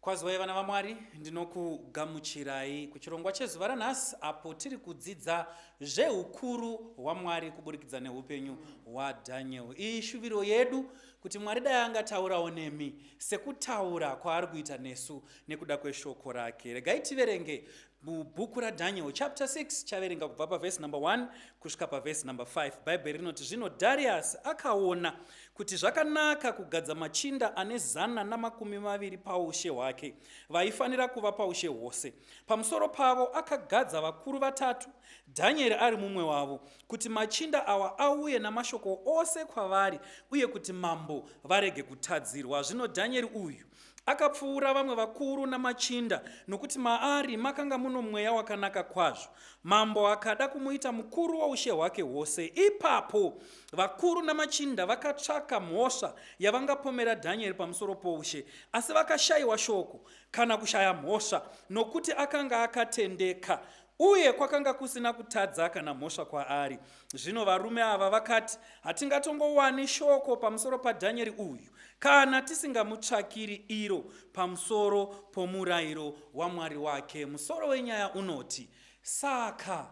Kwazwai vana vaMwari, ndinokugamuchirai kuchirongwa chezuva ranhasi apo tiri kudzidza zveukuru hwaMwari kuburikidza neupenyu hwaDaniel. Iyi shuviro yedu kuti Mwari dai angataurawo nemi sekutaura kwaari kuita nesu nekuda kweshoko rake. Regai tiverenge Mubhuku raDhanieri chapter 6 chaverenga kubva pavhesi number 1 kusvika pavhesi number 5. Bhaibheri rinoti zvino Dhariasi akaona kuti zvakanaka kugadza machinda ane zana namakumi maviri paushe hwake vaifanira kuva paushe hwose. Pamusoro pavo akagadza vakuru vatatu, Dhanieri ari mumwe wavo, kuti machinda awa auye namashoko ose kwavari uye kuti mambo varege kutadzirwa. Zvino Dhanieri uyu Akapfuura vamwe vakuru namachinda, nokuti maari makanga muno mweya wakanaka kwazvo. Mambo akada kumuita mukuru woushe hwake hwose. Ipapo vakuru namachinda vakatsvaka mhosva yavangapomera Dhanieri pamusoro poushe, asi vakashayiwa shoko, kana kushaya mhosva, nokuti akanga akatendeka Uye kwakanga kusina kutadza kana mhosva kwaari. Zvino varume ava vakati, Hatingatongowani shoko pamusoro paDhanyeri uyu kana tisingamutsvakiri iro pamusoro pomurayiro waMwari wake. Musoro wenyaya unoti, Saka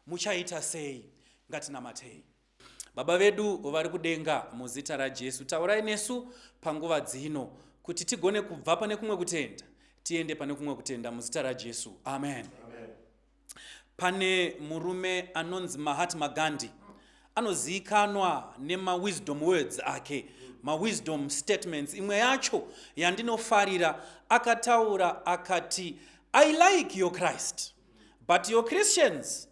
muchaita sei? Ngatinamatei. Baba vedu vari kudenga, muzita raJesu, taurai nesu panguva dzino kuti tigone kubva pane kumwe kutenda tiende pane kumwe kutenda muzita raJesu. Amen. Amen. Pane murume anonzi Mahatma Gandhi anozivikanwa nemawisdom words ake mawisdom statements imwe yacho yandinofarira akataura akati i like your christ but your christians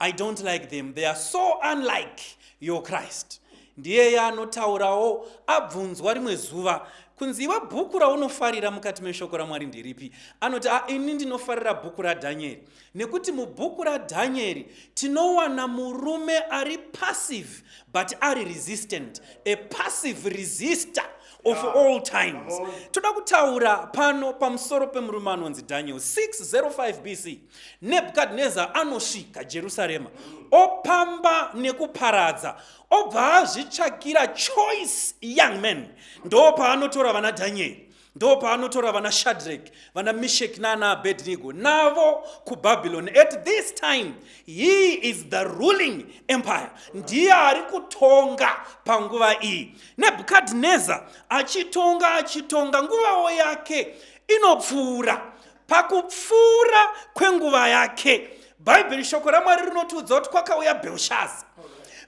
I don't like them. They are so unlike your Christ. Ndiyeye anotaurawo abvunzwa rimwe zuva kunzi iwe bhuku raunofarira mukati meshoko ramwari ndiripi anoti a ini ndinofarira bhuku radhanyeri nekuti mubhuku radhanyeri tinowana murume ari passive but ari resistant a passive resister of yeah. all times toda kutaura pano pamusoro pemurume anonzi daniel 605 bc nebhukadhineza anosvika jerusarema opamba nekuparadza obva azvitsvakira choice young man ndo paanotora vana dhanyeri ndo paanotora vana shadrek vana mishek naana abednigo navo kubabylon at this time he is the ruling empire ndiye ari kutonga panguva iyi nebhukadhineza achitonga achitonga nguvawo yake inopfuura pakupfuura kwenguva yake bhaibheri shoko ramwari rinotiudza kuti kwakauya belshaza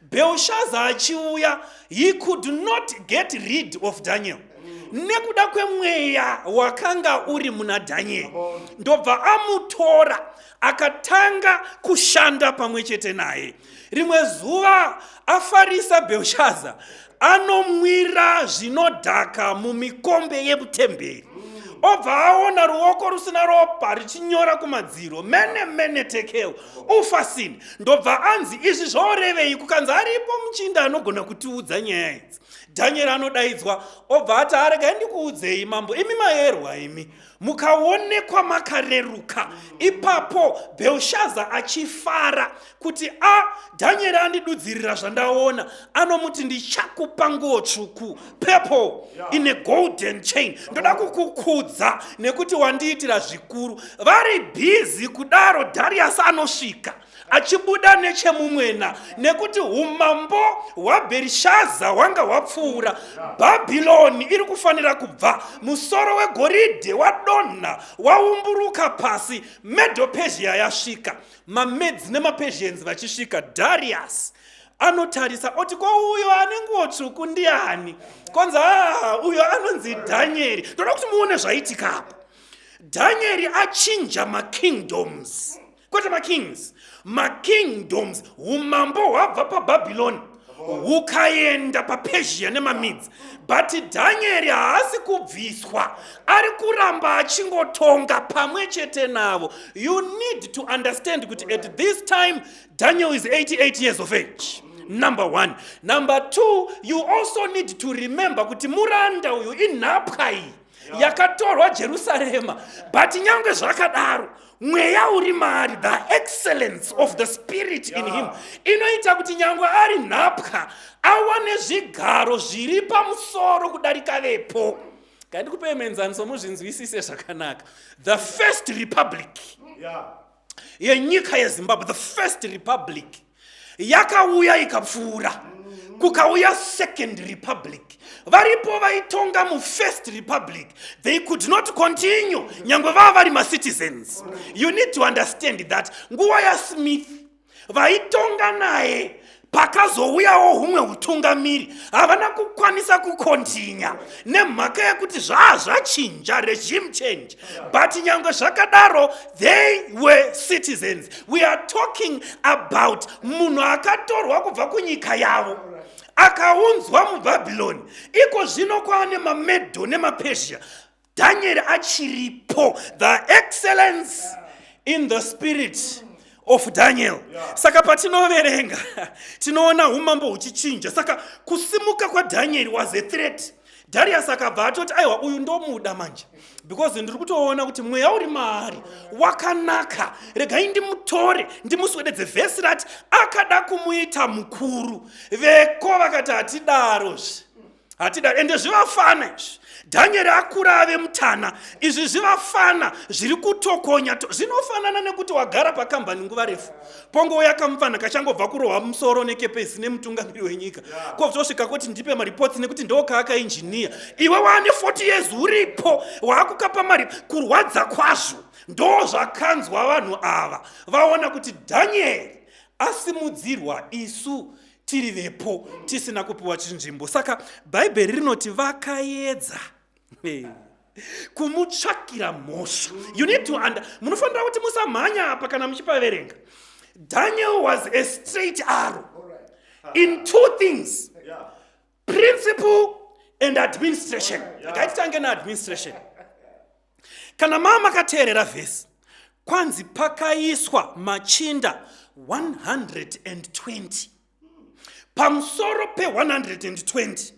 belshaza achiuya he could not get rid of daniel nekuda kwemweya wakanga uri muna dhanyeri ndobva amutora akatanga kushanda pamwe chete naye rimwe zuva afarisa belshaza anomwira zvinodhaka mumikombe yemutemberi obva aona ruoko rusina ropa richinyora kumadziro mene mene tekeo ufasini ndobva anzi izvi zvorevei kukanzi aripo muchinda anogona kutiudza nyaya idzi dhanyeri anodaidzwa obva ati arega ndikuudzei mambo imi mayerwa imi mukaonekwa makareruka ipapo bhelshaza achifara kuti a dhanyeri andidudzirira zvandaona anomuti ndichakupa nguo tsvuku purple in a golden chain ndoda kukukudza nekuti wandiitira zvikuru vari bhizi kudaro darius anosvika achibuda nechemumwena nekuti umambo hwabherishaza hwanga hwapfuura bhabhironi iri kufanira kubva musoro wegoridhe wadonha waumburuka pasi medopezhia yasvika mamedzi nemapezhienzi vachisvika darius anotarisa oti ko uyo ane nguo tsvuku ndiani kwanzi haa ah, uyo anonzi dhanyeri ndoda kuti muone zvaitika apa dhanyeri achinja makingdoms kwete makings makingdoms umambo hwabva pabhabhiloni hukaenda papersia nemamidzi but dhanyeri haasi kubviswa ari kuramba achingotonga pamwe chete navo you need to understand kuti at this time daniel is 88 years of age number one number two you also need to remember kuti muranda uyu inhapwa iyi yakatorwa jerusarema but nyange zvakadaro mweya uri maari the excellence of the spirit in him inoita kuti nyange ari nhapwa awane zvigaro zviri pamusoro kudarika vepo kandikupei muenzaniso muzvinzwisise zvakanaka the first republic yeah. yenyika yezimbabwe the first republic yakauya ikapfuura kukauya second republic varipo vaitonga mufirst republic they could not continue nyange vava vari macitizens you need to understand that nguva yasmith vaitonga naye pakazouyawo humwe utungamiri havana kukwanisa kukontinya nemhaka yekuti zvaa zvachinja regime change but nyange zvakadaro they were citizens we are talking about munhu akatorwa kubva kunyika yavo akaunzwa mubhabhiloni iko zvino kwaane mamedho nemapersia danieri achiripo the excellence in the spirit of daniel saka patinoverenga tinoona umambo huchichinja saka kusimuka kwadanieri was a threat darius akabva atoti aiwa uyu ndomuda manje because ndiri kutoona kuti mweya uri maari wakanaka regai ndimutore ndimuswededze vhesi rati akada kumuita mukuru veko vakati hatidarozve hatida ende zvivafana izvi dhanyeri akura ave mutana izvi zvivafana zviri kutokonya to zvinofanana nekuti wagara pakambani nguva refu pongouya kamupfanha kachangobva kurohwa musoro nekepesi nemutungamiri wenyika kovzosvika kuti ndipe maripotsi nekuti ndookaakainjiniya iwe waane 40 years uripo waakukapa mari kurwadza kwazvo ndoo zvakanzwa vanhu ava vaona kuti dhanyeri asimudzirwa isu tiri vepo tisina kupiwa chinzvimbo saka bhaibheri rinoti vakaedza hey. kumutsvakira mhosva you need to under munofanira kuti musamhanya apa kana muchipaverenga daniel was a straight arrow in two things principle and administration akaititange neadministration kana maa makateerera vhesi kwanzi pakaiswa machinda 120 pamusoro pe120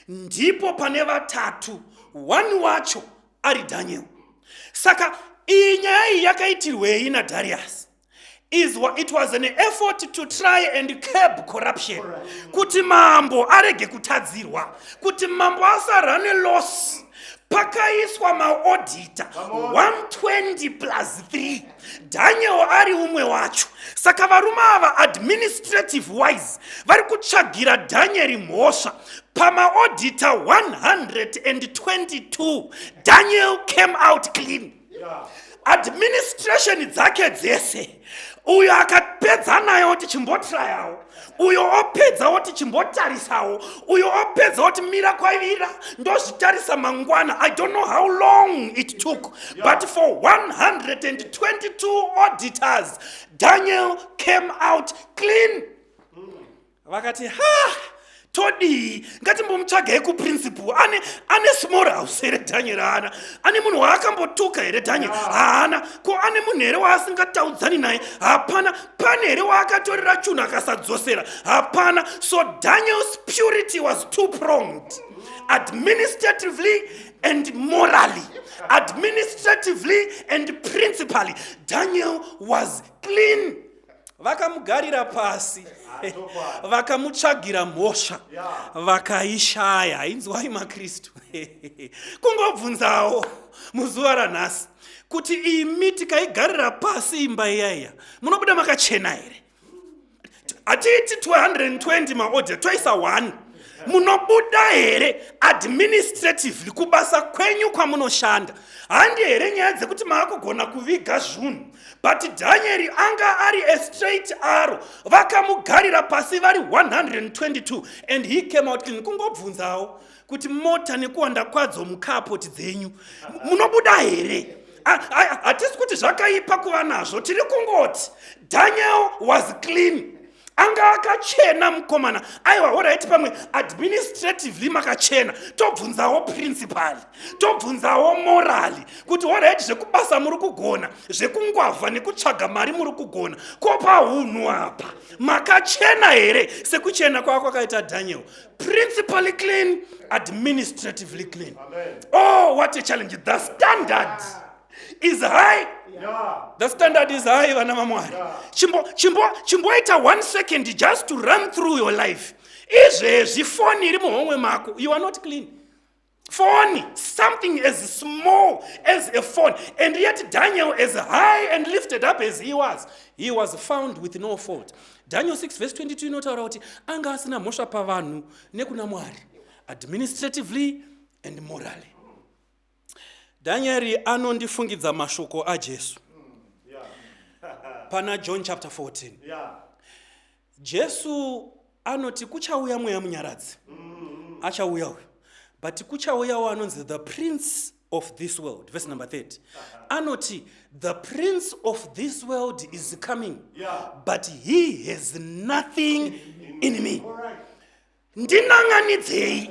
ndipo pane vatatu one wacho ari daniel saka iyi nyaya iyi yakaitirwei nadarius is what it was an effort to try and curb corruption kuti mambo arege kutadzirwa kuti mambo asarane loss pakaiswa maodita 120 plus 3 daniel ari umwe wacho saka varume ava administrative wise vari kutsvagira danieri mhosva pamaodita 122 daniel came out clean administration dzake dzese uyo akapedza naye oti chimbotrayawo uyo opedza oti chimbotarisawo uyo opedza oti mira kwaivira ndozvitarisa mangwana i don't know how long it took but for 122 auditors daniel came out clean vakati ha todii ngatimbomutsvagei kuprinciple ane ane small house here daniel haana ane munhu waakambotuka here daniel haana ko ane munhu here waasingataudzani naye hapana pane here waakatorera chunhu akasadzosera hapana so daniel's purity was too pronged administratively and morally administratively and principally daniel was clean vakamugarira pasi vakamutsvagira mhosva vakaishaya hainzwai makristu kungobvunzawo muzuva ranhasi kuti imi tikaigarira pasi imba iyaiya munobuda makachena here hatiiti 220 maodya toisa 1 munobuda here administratively kubasa kwenyu kwamunoshanda handi here nyaya dzekuti maakugona kuviga zvunhu but dhanyeri anga ari a straight aro vakamugarira pasi vari 122 and he came out clean kungobvunzawo kuti mota nekuwanda kwadzo mukaapoti dzenyu munobuda here hatisi kuti zvakaipa kuva nazvo tiri kungoti daniel was clean anga akachena mukomana aiwa horaiti pamwe administratively makachena tobvunzawo principali tobvunzawo morali kuti horaiti zvekubasa muri kugona zvekungwavha nekutsvaga mari muri kugona ko paunhu apa makachena here sekuchena kwava kwakaita daniel principally clean administratively clean Amen. oh what a challenge the standard Amen. is high the standard is high vana vamwari chimboita one second just to run through your life izvezvi foni iri muhomwe mako you are not clean foni something as small as a phone and yet daniel as high and lifted up as he was he was found with no fault daniel 6 vese 22 inotaura kuti anga asina mhosva pavanhu nekuna mwari administratively and morally Dhanyeri anondifungidza mashoko aJesu pana John chapter 14. Yeah. Jesu anoti kuchauya mweya munyaradzi. Achauya uyu. But kuchauyawo anonzi the prince of this world. Verse number 30. Anoti the prince of this world is coming. Yeah. But he has nothing in me. All right. ndinan'anidzei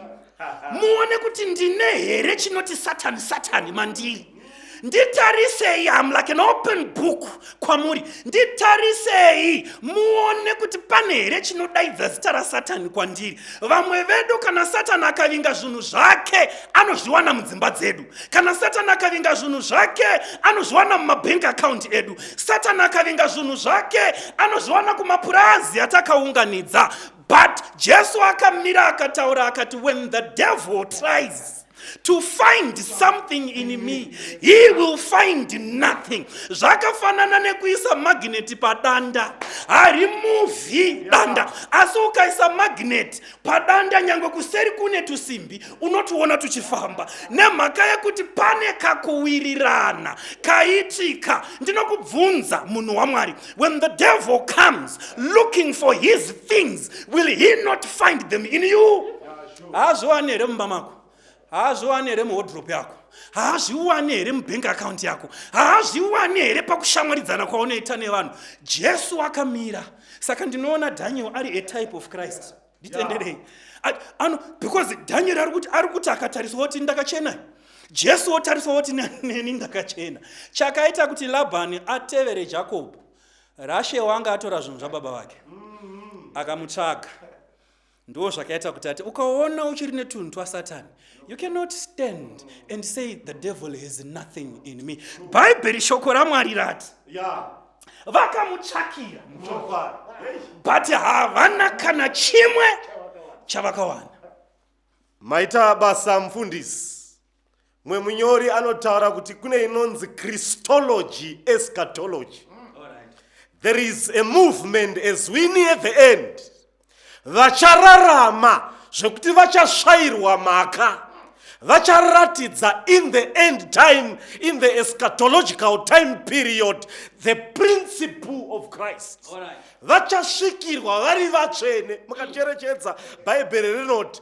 muone kuti ndine here chinoti satani satani mandiri nditarisei am like an open book kwamuri nditarisei muone kuti pane here chinodaidza zita rasatani kwandiri vamwe vedu kana satani akavinga zvinhu zvake anozviwana mudzimba dzedu kana satani akavinga zvinhu zvake anozviwana mumabank account edu satani akavinga zvinhu zvake anozviwana kumapurazi atakaunganidza But Jesu akamira akataura akati when the devil tries to find something in me he will find nothing zvakafanana nekuisa magneti padanda harimuvhi danda asi ukaisa magneti padanda nyange kuseri kune tusimbi unotiona tuchifamba nemhaka yekuti pane kakuwirirana kaitika ndinokubvunza munhu wamwari When the devil comes looking for his things, will he not find them in you? haazviwani here mumba mako haazviwani here muhodrop yako haazviwani here mubank account yako haazviwani here pakushamwaridzana kwaunoita nevanhu jesu akamira saka ndinoona daniel ari a type of christ nditenderei ano because dhanyeri ari kuti ari kuti akatariswa kuti ndakachena jesu wotariswa kuti neni ndakachena chakaita kuti labhani atevere jakobho rashe wanga atora zvinhu zvababa vake mm-hmm. akamutsvaga ndo zvakaita kuti ati ukaona uchiri netunhu twasatani you cannot stand and say the devil has nothing in me bhaibheri shoko ramwari rati yeah. vakamutsvakira muchokwadi but havana kana chimwe chavakawana maita basa mufundisi mwe munyori anotaura kuti kune inonzi christology eschatology there is a movement as we near the end vachararama zvekuti vachasvairwa mhaka vacharatidza in the end time in the eschatological time period the principle of christ vachasvikirwa vari vatsvene mukacherechedza bhaibheri rinoti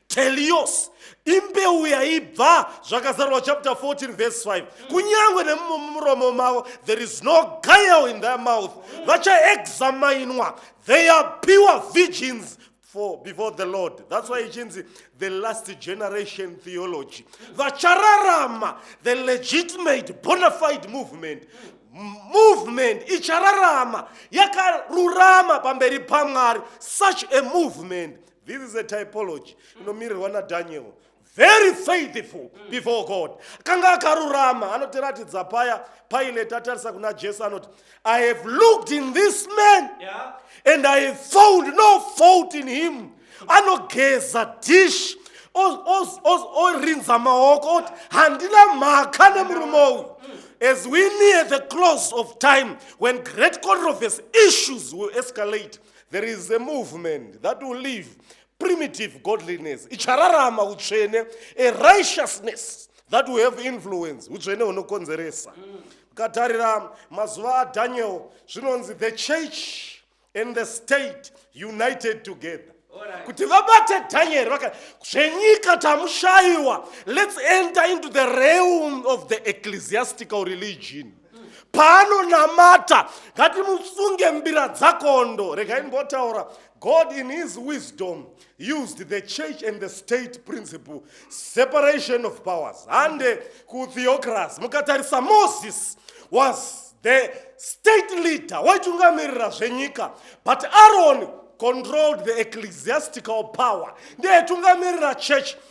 telios imbeu yaibva zvakazarwa chapter 14 verse 5 kunyange nemumuromo mavo there is no guile in their mouth vachaexaminwa they are pure virgins for before the lord that's why ichinzi the last generation theology vachararama the legitimate bonafide movement movement ichararama yakarurama pamberi pamwari such a movement This is a typology inomirirwa naDaniel. Very faithful before God. Kanga akarurama anotiratidza paya Pilate atarisa kuna Jesu anoti I have looked in this man Yeah. and I have found no fault in him. Anogeza dish o- o- o- orinza maoko oti handina mhaka nemurume uyu. As we near the close of time when great controversy issues will escalate, there is a movement that will live primitive godliness ichararama utsvene a righteousness that will have influence utsvene hunokonzeresa ukatarira mazuva adaniel zvinonzi the church and the state united together kuti vabate danieri vaka zvenyika tamushayiwa let's enter into the realm of the ecclesiastical religion paanonamata ngatimusunge mbira dzakondo regai ndimbotaura god in his wisdom used the church and the state principle separation of powers hande kutheocracy mukatarisa moses was the state leader waitungamirira zvenyika but aron controlled the ecclesiastical power ndiye aitungamirira church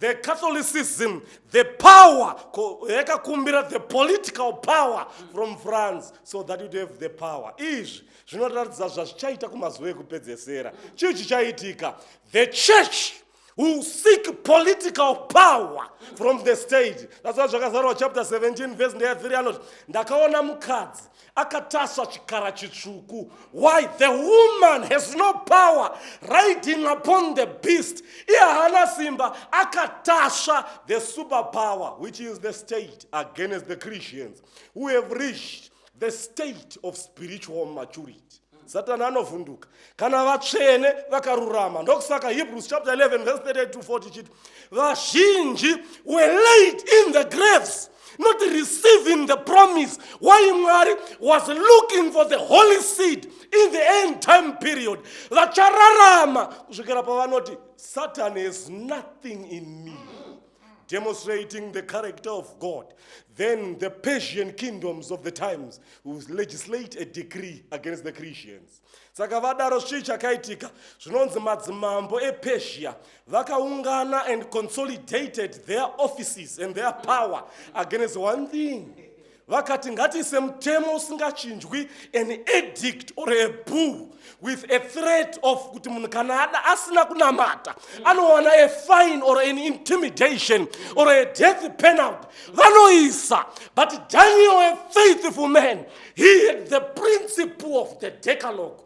the catholicism the power yakakumbira the political power from france so that you'd have the power izvi zvinoratidza zvazvichaita kumazuva ekupedzesera chii chichaitika the church who seek political power from the state that's why zvakazarwa chapter 17 verse ndea 3 anoti ndakaona mukadzi akatasva chikara chitsvuku why the woman has no power riding upon the beast iye haana simba akatasva the super power which is the state against the christians who have reached the state of spiritual maturity satani anovhunduka kana vatsvene vakarurama ndokusaka hebrews chapter 11 verse 38 to 40 chiti vazhinji were laid in the graves not receiving the promise why mwari was looking for the holy seed in the end time period vachararama kusvikira pavanoti satan has nothing in me demonstrating the character of God, then the Persian kingdoms of the times will legislate a decree against the Christians. Saka vadaro chii chakaitika zvinonzi madzimambo ePersia vakaungana and consolidated their offices and their power against one thing vakati ngatiise mutemo usingachinjwi an edict or a bull with a threat of kuti munhu kana ada asina kunamata anowana a fine or an intimidation or a death penalty vanoisa but daniel a faithful man he had the principle of the decalogue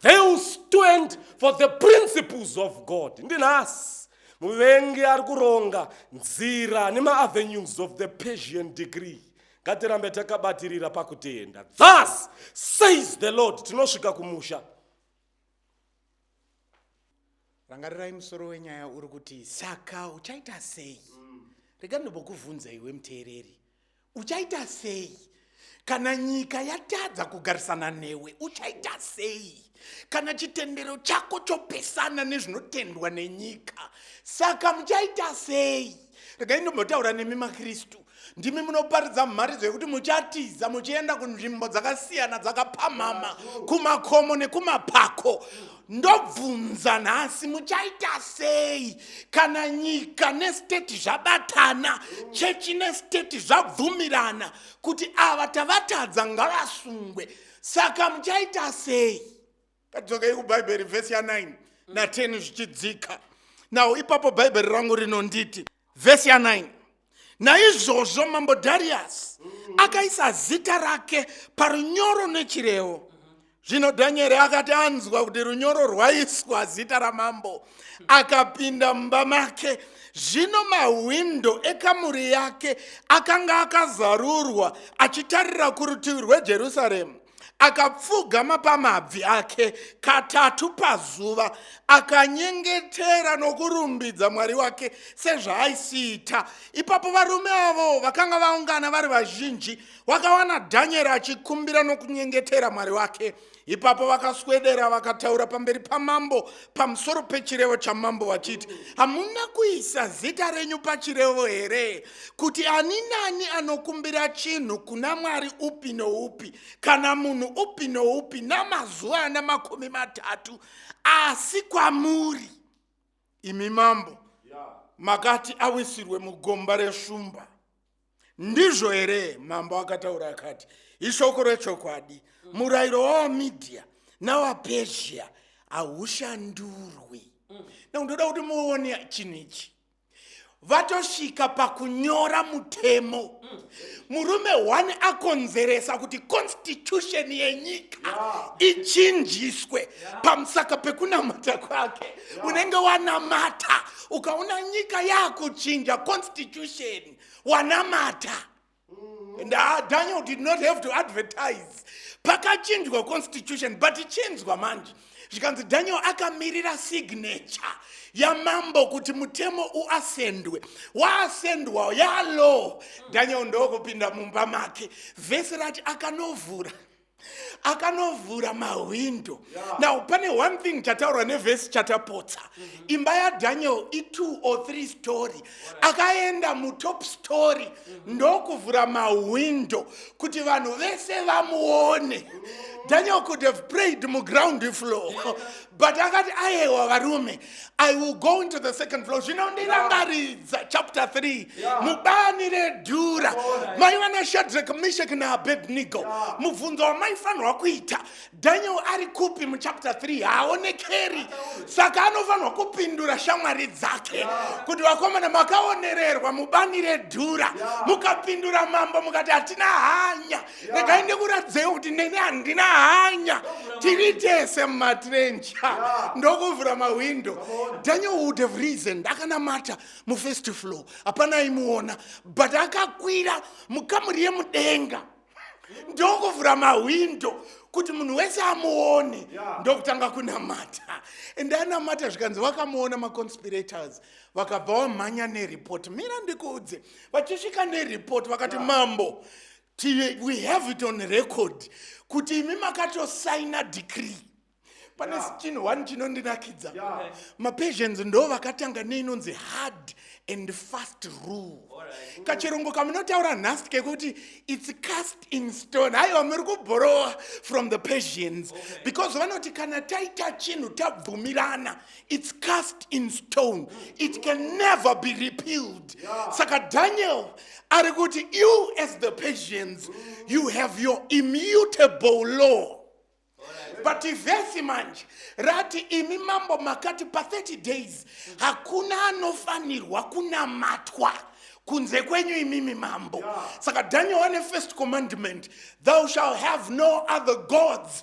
They will stand for the principles of God. Ndinhasi muvengi ari kuronga nzira nemaavenues of the Persian degree. Ngatirambe takabatirira pakutenda. Thus says the Lord, tinosvika kumusha. Rangarirai musoro wenyaya uri kuti saka uchaita sei? Rega ndobokuvhunza iwe muteereri. Uchaita sei kana nyika yatadza kugarisana newe? Uchaita sei kana chitendero chako chopesana nezvinotendwa nenyika? Saka muchaita sei? Regai ndombotaura nemi maKristu. Ndimi munoparidza mharidzo yekuti muchatiza muchienda kunzvimbo dzakasiyana dzakapamhama, kumakomo nekumapako. ndobvunza nhasi muchaita sei kana nyika nesteti zvabatana chechi nesteti zvabvumirana kuti ava tavatadza ngavasungwe saka muchaita sei kadzokei kubhaibheri vhesi ya9 na10 zvichidzika nawo ipapo bhaibheri rangu rinonditi vhesi ya 9 naizvozvo mambo dhariyasi akaisa zita rake parunyoro nechirevo zvino dhanyeri akati anzwa kuti runyoro rwaiswa zita ramambo akapinda mumba make zvino mahwindo ekamuri yake akanga akazarurwa achitarira kurutivi rwejerusaremu akapfugama pamabvi ake katatu pazuva akanyengetera nokurumbidza mwari wake sezvaaisiita ipapo varume avo vakanga vaungana vari vazhinji wakawana dhanyeri achikumbira nokunyengetera mwari wake ipapo vakaswedera vakataura pamberi pamambo pamusoro pechirevo chamambo vachiti hamuna kuisa zita renyu pachirevo here kuti ani nani anokumbira chinhu kuna mwari upi noupi kana munhu upi noupi namazuva ana makumi matatu asi kwamuri imi mambo makati awisirwe mugomba reshumba ndizvo here mambo akataura akati ishoko rechokwadi murayiro wavamedia navapersia haushandurwi mm. na ndoda kuti muone chinhu ichi vatosvika pakunyora mutemo mm. murume one akonzeresa kuti constitution yenyika ichinjiswe pamusaka pekunamata kwake unenge wanamata ukaona nyika yakuchinja constitution wanamata and uh, daniel did not have to advertise pakachinjwa constitution but chinzwa manje zvikanzi daniel akamirira signature yamambo kuti mutemo uasendwe waasendwawo yalaw daniel ndokupinda mumba make vhesi rati akanovhura akanovhura mahwindo yeah. now pane one thing chataurwa nevhesi chatapotsa mm -hmm. imba yadaniel itwo or three story right. akaenda mutop story mm -hmm. ndokuvhura mahwindo kuti vanhu vese vamuone mm -hmm. daniel could have prayed muground floor yeah. but akati ayewa varume I will go into the second floor. Zvinondirangaridza chapter 3. Yeah. Mubani redhura. Mai vana Shadrach, Meshach na Abednego. Yeah. Mubvunzo wamaifanirwa kuita. Daniel ari kupi mu chapter 3? Haaonekeri. Saka anofanirwa kupindura shamwari dzake. Kuti vakomana makaonererwa mubani redhura. Mukapindura mambo mukati hatina hanya. regai ndikuratidzei kuti neni handina hanya tiri tese mumatrench ndokuvhura mahwindo daniel would have reason akanamata mufirst floor hapana aimuona but akakwira mukamuri yemudenga ndokuvhura mahwindo kuti munhu wese amuone ndokutanga kunamata and anamata zvikanzi vakamuona maconspirators vakabva wamhanya nereport mira ndikuudze vachisvika nereport vakati mambo yeah. Tive, we have it on record kuti imi makatosaina decree pane yeah. chinhu one chinondinakidza yeah. mapersians ndo vakatanga neinonzi hard and fast rule right. kachirongo kamunotaura nhasi kekuti its cast in stone haiwa muri kubhorowa from the persians okay. because vanoti kana taita chinhu tabvumirana its cast in stone it can never be repealed saka daniel ari kuti you as the persians you have your immutable law but vhesi manje rati imi mambo makati pa30 days hakuna anofanirwa kunamatwa kunze kwenyu imimi mambo saka daniel wane first commandment thou shall have no other gods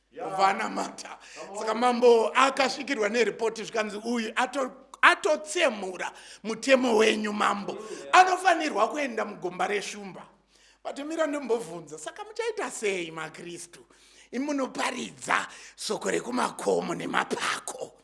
vanamata saka mambo akasvikirwa neripoti zvikanzi uyu atotsemura mutemo wenyu mambo anofanirwa kuenda mugomba reshumba vatomira ndombobvunza saka muchaita sei makristu imunoparidza soko rekumakomo nemapako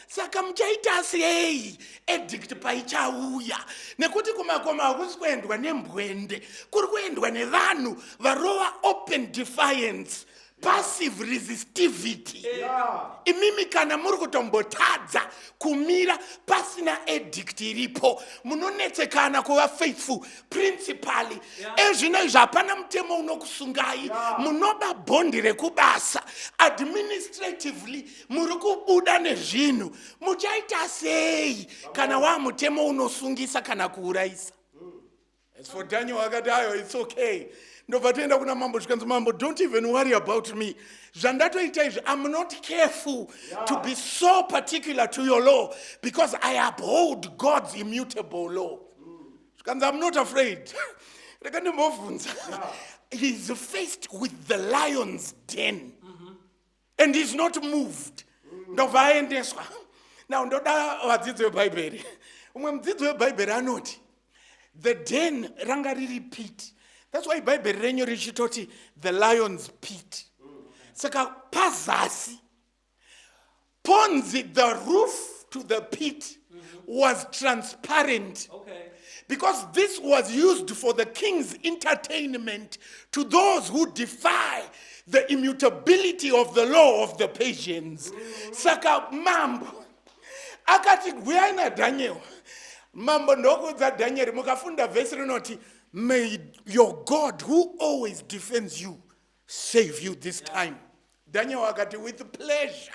saka muchaita sei edict paichauya nekuti kumakoma hakusi kuendwa nembwende kuri kuendwa nevanhu varova open defiance passive resistivity imimi kana muri kutombotadza kumira pasina edict iripo munonetsekana kuva faithful principally ezvino izvi hapana mutemo unokusungai munoba bhondi rekubasa administratively muri kubuda nezvinhu muchaita sei kana waa mutemo unosungisa kana kuurayisa as for daniel akati ayo its okay ndobva toenda kuna mambo zvikanzi mambo don't even worry about me zvandatoita izvi im not careful yeah. to be so particular to your law because i uphold god's immutable law zvikanzi mm. im not afraid reka ndimbobvunza yeah. he's faced with the lions den mm. and is not moved ndobva aendeswa now ndoda vadzidzi vebhaibheri umwe mudzidzi webhaibheri anoti the den ranga riri pit thats why bhaibheri renyu richitoti the lions pit saka pazasi ponzi the roof to the pit was transparent okay. because this was used for the king's entertainment to those who defy the immutability of the law of the Persians. Saka mambo akati huyai naDhaniel. Mambo ndokuudza Daniel mukafunda vhesi rinoti may your God who always defends you save you this time daniel akati with pleasure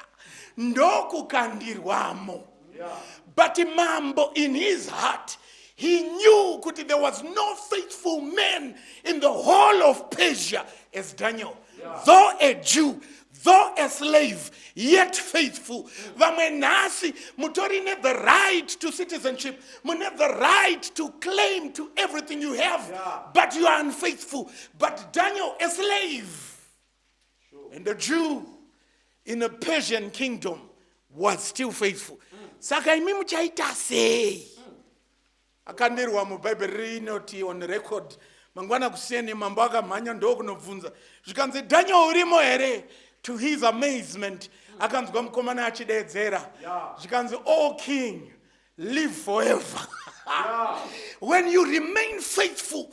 ndokukandirwamo but mambo in his heart he knew kuti there was no faithful man in the whole of persia as daniel though a jew though a slave yet faithful vamwe nhasi mutori ne the right to citizenship mune the right to claim to everything you have yeah. but you are unfaithful but daniel a slave sure. and a jew in a persian kingdom was still faithful mm. saka imi muchaita sei mm. akandirwa mubhaibheri rinoti on record mangwana kuseni mambo akamhanya ndokunobvunza zvikanzi daniel urimo here to his amazement mm. akanzwa mukomana achideedzera zvikanzi all oh, king live forever when you remain faithful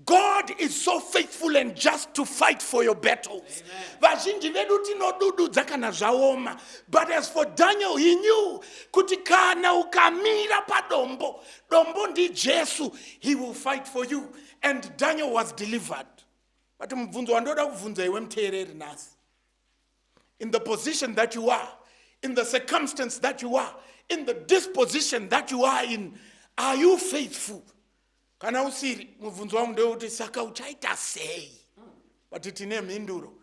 god is so faithful and just to fight for your battles vazhinji vedu tinodududza kana zvaoma but as for daniel he knew kuti kana ukamira padombo dombo ndijesu he will fight for you and daniel was delivered but mubvunzo wandoda kubvunza iwe muteereri nhasi in the position that you are, in the circumstance that you are, in the disposition that you are in, are you faithful? Kana usiri, mubvunzo wangu ndewekuti saka uchaita sei? But tine mhinduro.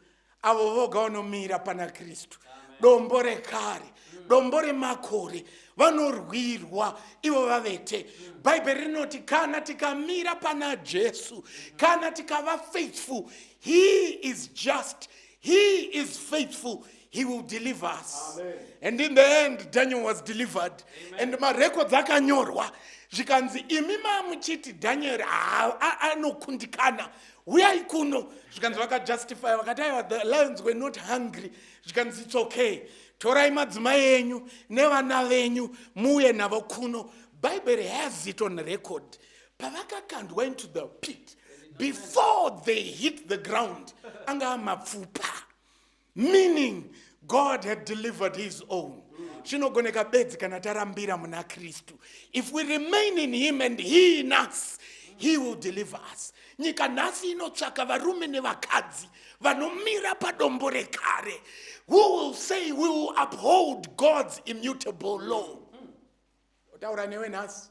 Avo voga vanomira pana Kristu. Dombo rekare, dombo remakore, vanorwirwa ivo vavete. Bhaibheri rinoti kana tikamira pana Jesu, kana tikava faithful, he is just, He is faithful. He will deliver us. Amen. And in the end, Daniel was delivered. Amen. And marecords akanyorwa zvikanzi imi mamuchiti Daniel anokundikana uyai kuno zvikanzi vakajustify vakati aiwa the lions were not hungry zvikanzi it's okay torai madzimai enyu nevana venyu muuye navo kuno bible has it on record pavakakandwa into the pit before they hit the ground anga amapfupa meaning god had delivered his own zvinogoneka bedzi kana tarambira muna kristu if we remain in him and he in us he will deliver us nyika nhasi inotsvaka varume nevakadzi vanomira padombo rekare who will say we will uphold god's immutable law otaura newe nhasi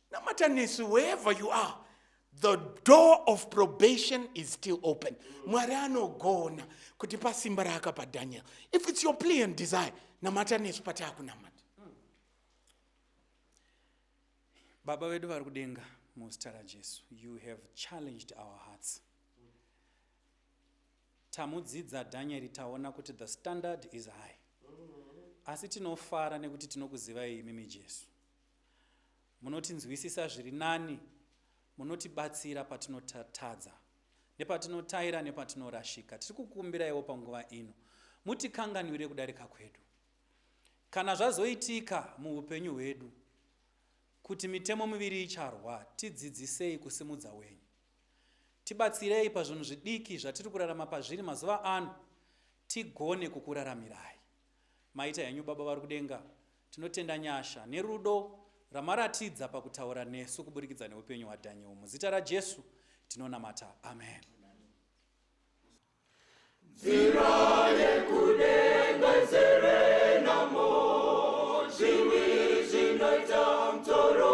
namatanisi wherever you are the door of probation is still open mwari anogona kuti pasimba raakapa daniel if it's your plea and desire namata nesu pataakunamata baba vedu vari kudenga muzita rajesu you have challenged our hearts tamudzidza dhanyeri taona kuti the standard is high asi tinofara nekuti tinokuzivai imimi jesu Munotinzwisisa zviri nani, munotibatsira patinotadza, nepatinotaira nepatinorashika. Tiri kukumbiraiwo panguva ino mutikanganwire kudarika kwedu. Kana zvazoitika muupenyu hwedu kuti mitemo miviri icharwa, tidzidzisei kusimudza wenyu. Tibatsirei pazvinhu zvidiki zvatiri kurarama pazviri mazuva ano, tigone kukuraramirai. Maita henyu Baba vari kudenga, Tinotenda nyasha nerudo ramaratidza pakutaura nesu kuburikidza neupenyu hwaDaniel. Muzita raJesu tinonamata. Amen. Zira yekudenga zere namo, zviwi zvinoita mtoro